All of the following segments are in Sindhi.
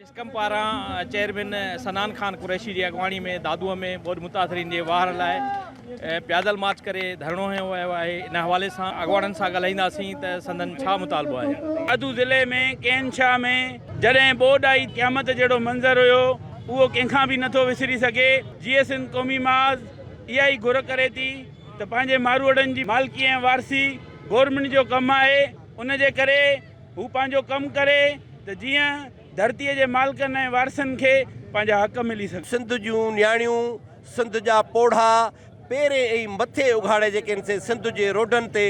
اسڪم پاران چيئرمين سنان خان قريشي جي اڳواڻي ۾ دادوء ۾ ٻوڏ متاثرين جي واهر لاء پيادل مارچ ڪري ڌرڻو هنيو ويو آهي ان حوالي سان اڳواڻن سان ڳالهائينداسين ته سندن ڇا مطالبو آهي. دادو ضلعي ۾ ڪين شاهه ۾ جڏهن ٻوڏ آئي قيامت جهڙو منظر هيو اهو ڪنهن کان به نٿو وسري سگهي جيئي سنڌ قومي محاذ اها ئي گهر ڪري ٿي ته پنهنجي ماروئڙن جي مالڪي ۽ وارثي گورنمينٽ جو ڪم آهي ان جي ڪري هو پنهنجو ڪم ڪري ته جيئن ڌرتيء جي مالڪن ۽ وارثن کي پنهنجا حق ملي سگهن. سنڌ جون نياڻيون، سنڌ جا پوڙها، پيرين ۽ مٿي اگهاڙي جيڪي ان سين سنڌ جي روڊن تي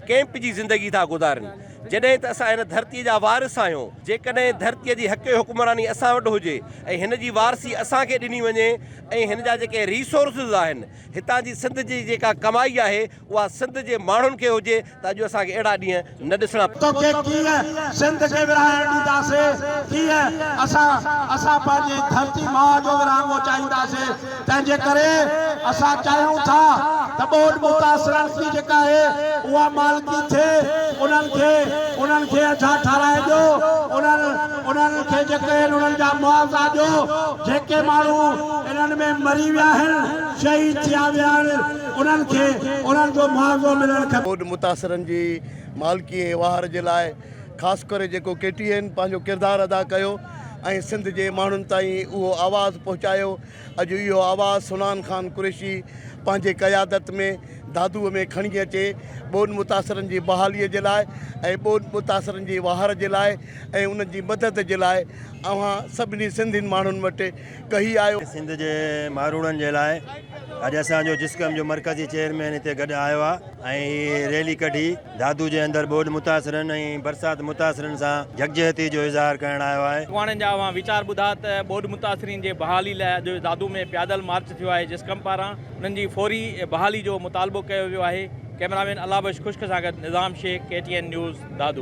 ڪئمپ جي زندگي ٿا گذارين، جڏهن ته اسان هن ڌرتيء جا وارث آهيون، جيڪڏهن ڌرتيء جي حق حڪمراني اسان وٽ هجي ۽ هن جي وارثي اسان کي ڏني وڃي ۽ هن جا جيڪي ريسورسز آهن، هتان جي سنڌ جي جيڪا ڪمائي آهي، اها سنڌ جي ماڻهن کي هجي ته اڄ اسان کي اهڙا ڏينهن نه ڏسڻا پون. توکي ڪيئن سنڌ کي ورهائڻ ڏينداسين، ڪيئن اسان اسان پنهنجي ڌرتي ماء جو ورهاڱو چاهينداسين، تنهن جي ڪري اسان چاهيون ٿا ته ٻوڏ متاثرن جي جيڪا آهي اها مالڪي ٿئي، انهن کي انهن کي اجها ٺهرائي ڏيو، انهن انهن کي جيڪي آهن انهن جا معاوضا ڏيو، جيڪي ماڻهو انهن ۾ مري ويا آهن، شهيد ٿيا ويا آهن. انهن کي انهن جو معاوضو ملڻ کپي. ٻوڏ متاثرن جي مالڪي ۽ واهر جي لاء خاص ڪري جيڪو ڪي ٽي اين پنهنجو ڪردار ادا ڪيو ۽ سنڌ جي ماڻهن تائين اهو آواز پهچايو اڄ اهو آواز سونان خان قريشي پنهنجي قيادت ۾ دادوء ۾ کڻي اچي ٻوڏ متاثرن جي بحالي جي لاء ۽ ٻوڏ متاثرن جي واهر جي لاء ۽ انهن جي مدد جي لاء اوهان سڀني سنڌين ماڻهن وٽ ڪهي آيو. سنڌ جي ماروئڙن جي لاء اڄ اسان جو جسقم جو مرڪزي چيئرمين هتي گڏ آيو آ ۽ هي ريلي ڪڍي دادو جي اندر ٻوڏ متاثرن ۽ برسات متاثرن سان يڪجهتي جو اظهار ڪرڻ آيو آهي. اڳواڻن جا اوهان ويچار ٻڌا ته ٻوڏ متاثرين جي بحالي لاء اڄ دادو ۾ پيادل مارچ ٿيو آهي جسقم پاران انهن جي فوري بحالي جو مطالبو ڪيو ويو آهي ڪئميرامين الله بخش خشڪ سان گڏ Nizam Shaikh K T N news Dadu.